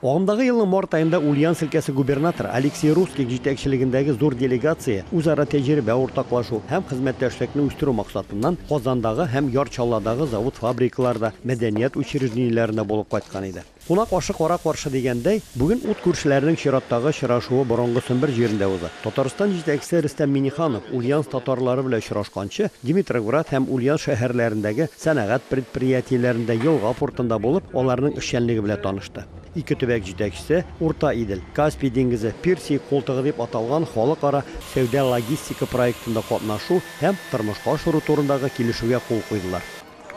Агымдагы елның март аенда Ульяновск өлкәсе губернаторы Алексей Русских җитәкчелегендәге зур делегация үзара тәҗрибә уртаклашу һәм хезмәттәшлекне үстерү максатыннан Казандагы һәм Яр Чаллыдагы завод-фабрикаларда, мәдәният учреждениеләрендә булып кайткан иде. Кунак ашы кара каршы дигәндәй, бүген ут күршеләренең чираттагы очрашуы борынгы Сембер җирендә уза. Татарстан җитәкчесе Рөстәм Миңнеханов Ульяновск татарлары белән очрашканчы, Димитроград һәм Ульян шәһәрләрендәге сәнәгать предприятиеләрендә, елга портында булып, аларның эшчәнлеге белән танышты. Ике төбәк җитәкчесе Урта Идел, Каспий диңгезе, Персия култыгы дип аталган халыкара сәүдә-логистика проектында катнашу һәм тормышка ашыру турындагы килешүгә кул куйдылар.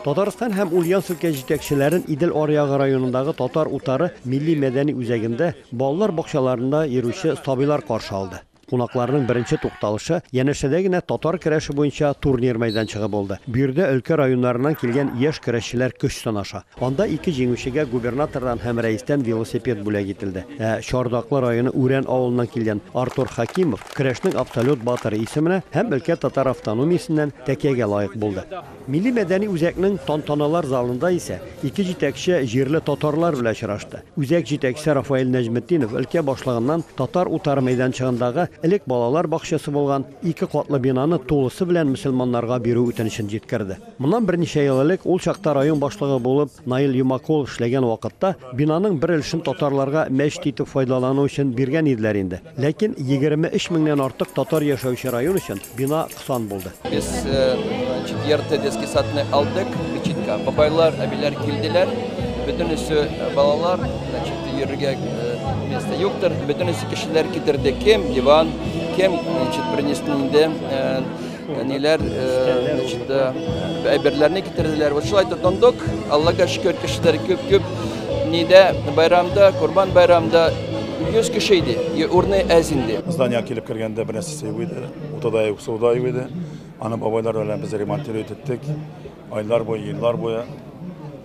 Татарстан һәм Ульян өлкә җитәкчеләрен Идел аръягы районындагы Татар утары милли-мәдәни үзәгендә балалар бакчаларында йөрүче сабыйлар каршы алды. Кунакларның беренче тукталышы янәшәдә генә татар көрәше буенча турнир мәйданчыгы булды. Биредә өлкә районнарыннан килгән яшь көрәшчеләр көч сынаша. Анда ике җиңүчегә губернатордан һәм рәистән велосипед бүләк ителде. Ә Чардаклы районы Үрән авылыннан килгән Артур Хәкимов көрәшнең абсолют батыры исеменә һәм өлкә татар автономиясеннән тәкиягә лаек булды. Милли-мәдәни үзәкнең тантаналар залында исә ике җитәкче җирле татарлар белән очрашты. Үзәк җитәкчесе Рафаэль Нәҗметдинов өлкә башлыгыннан татар утары мәйданчыгындагы элек балалар бакчасы булган ике катлы бинаны тулысы белән мөселманнарга бирү үтенечен җиткерде. Моннан берничә ел элек, ул чакта район башлыгы булып Наил Юмакулов эшләгән вакытта, бинаның бер өлешен татарларга мәчет итеп файдалану өчен биргән иделәр инде. Ләкин егерме өч меңнән артык татар яшәүче район өчен бина сан булды. Без четвертый детский садны алдык, Бичитка. Бабайлар, әбиләр килделәр. Бөтенесе балалар, значит, йөрергә место юктыр. Бөтенесе кешеләр китерде. Кем диван, кем, значит, принесли инде ниләр, значит, әйберләрне китерделәр. Вот шулай тотындык. Аллага шөкер, кешеләр күп-күп. Нидә байрамда, Курбан байрамда 100 кеше иде. Урны әз инде. Здание килеп кергәндә бернәрсә Сыйу иде, уты да юк, су да юк иде. Аны бабайлар белән без ремонтировать иттек. Айлар буе, еллар буе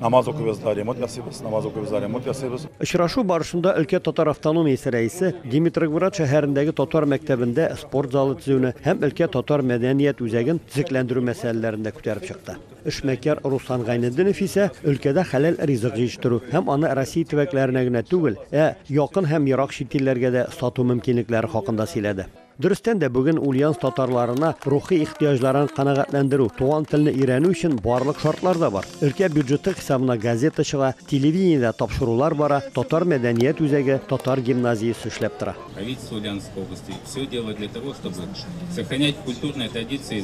намаз укыйбыз да ремонт ясыйбыз, намаз укыйбыз да ремонт ясыйбыз. Очрашу барышында өлкә татар автономиясе рәисе Димитрогврад шәһәрендәге татар мәктәбендә спорт залы төзүне һәм өлкә татар мәдәният үзәген төзекләндерү мәсьәләләрен дә күтәреп чыкты. Эшмәкәр Руслан Гайнетдинов исә өлкәдә хәләл ризык җитештерү һәм аны Россия төбәкләренә генә түгел, ә якын һәм ерак чит илләргә дә сату мөмкинлекләре хакында сөйләде. Дөрестән дә, бүген Ульяновск татарларына рухи ихтыяҗларын канәгатьләндерү, туган телне өйрәнү өчен барлык шартлар да бар. Өлкә бюджеты хисабына газета чыга, телевидениедә тапшырулар бара, татар мәдәният үзәге, татар гимназиясе эшләп тора. Правительство Ульяновской области все делает для того, чтобы сохранять культурные традиции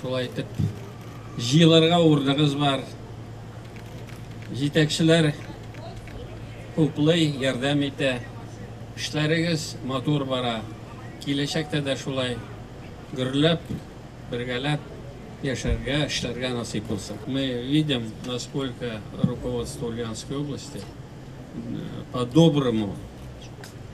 Шулай итеп, җыелырга урыныгыз бар. Җитәкчеләр хуплый, ярдәм итә. Эшләрегез матур бара. Киләчәктә дә шулай гөрләп, бергәләп яшәргә, эшләргә насыйп булсын. Мы видим, насколько руководство Ульяновской области э, по-доброму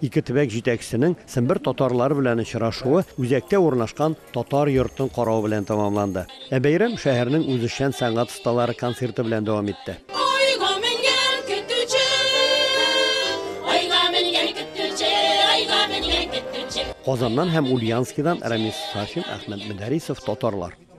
Ике төбәк җитәкчесенең Сембер татарлары белән очрашуы үзәктә урнашкан Татар йортын карау белән тәмамланды. Ә бәйрәм шәһәрнең үзешчән сәнгать осталары концерты белән дәвам итте. Айга менгән көтүче, Айга менгән көтүче, Айга менгән көтүче. Казаннан һәм Ульянскидан Рамис Сафин, Әхмәт Мөдәрисов, Татарлар.